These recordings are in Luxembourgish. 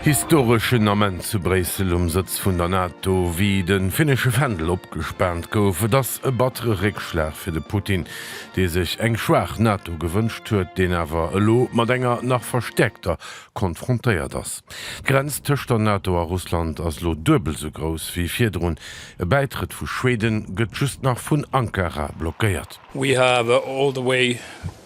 Historeschen Ament zu Bréissel um Sëtz vun der NATO, wéi de finnesche Fändel opgespaant gouf. Et ass e battere Réckschlag fir de Putin, dee sech eng schwaach NATO gewënscht huet, deen awer elo mat enger nach verstäerkter konfrontéiert ass. D'Grenz tëscht der NATO a Russland ass elo duebel sou grouss wéi virdrun. E Bäitrëtt vu Schweden gëtt just nach vun Ankara blockéiert. We have all the way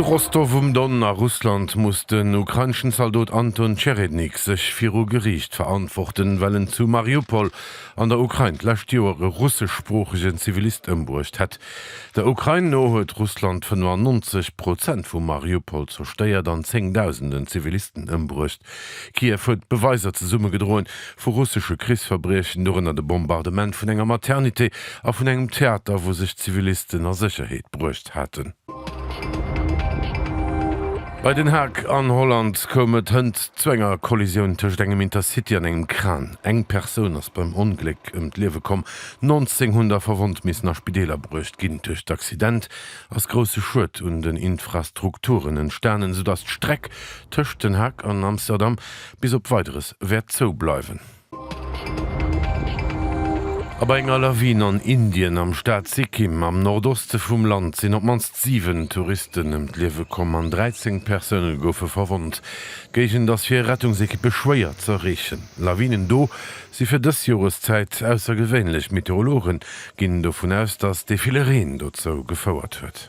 Zu Rostow um Don a Russland muss den ukraineschen Zaldot Anton Tscherednik sech viru Geriicht verantworten, well en zu Mariupol an der Ukrain d'lescht Joer e russeschsproochegen Zivilist ëmbruecht hätt. Der Ukrain no huet Russland 95 Prozent vu Mariupol zerstéiert an Zéngdausenden Zivilisten ëmbruecht. Kiew huet Beweiser zesummegedroen, vu russesche Krichsverbriechen, dorënner de Bombardement vun enger Maternité a vun engem Theater, wou sech Zivilisten a Sécherheet bruecht haten. Bei Den Haag an Holland koum et hënt zu enger Kollisioun tëscht engem Intercity an engem Kran. Eng Persoun ass beim Ongléck ëm d'Liewe komm, 19 hunn da verwonnt missen a Spideeler bruecht ginn. Duerch d'Accident ass grousse Schued un den Infrastrukturen entstanen, soudatt d'Streck tëscht Den Haag an Amsterdam bis op Weideres wäert zou bleiwen. A bei enger Lawin an Indien am Staat Sikkim am Nordoste vum Land sinn op d'mannst 7 Touristen ëm d'Liewe komm an 13 Persoune goufe verwonnt. D'Géigend ass fir Rettungsekippe schwéier z'erreechen. Lawinen do si fir dës Joreszäit aussergewéinlech. Meteorologe ginn dovun aus, datt dee ville Reen dozou gefouert huet.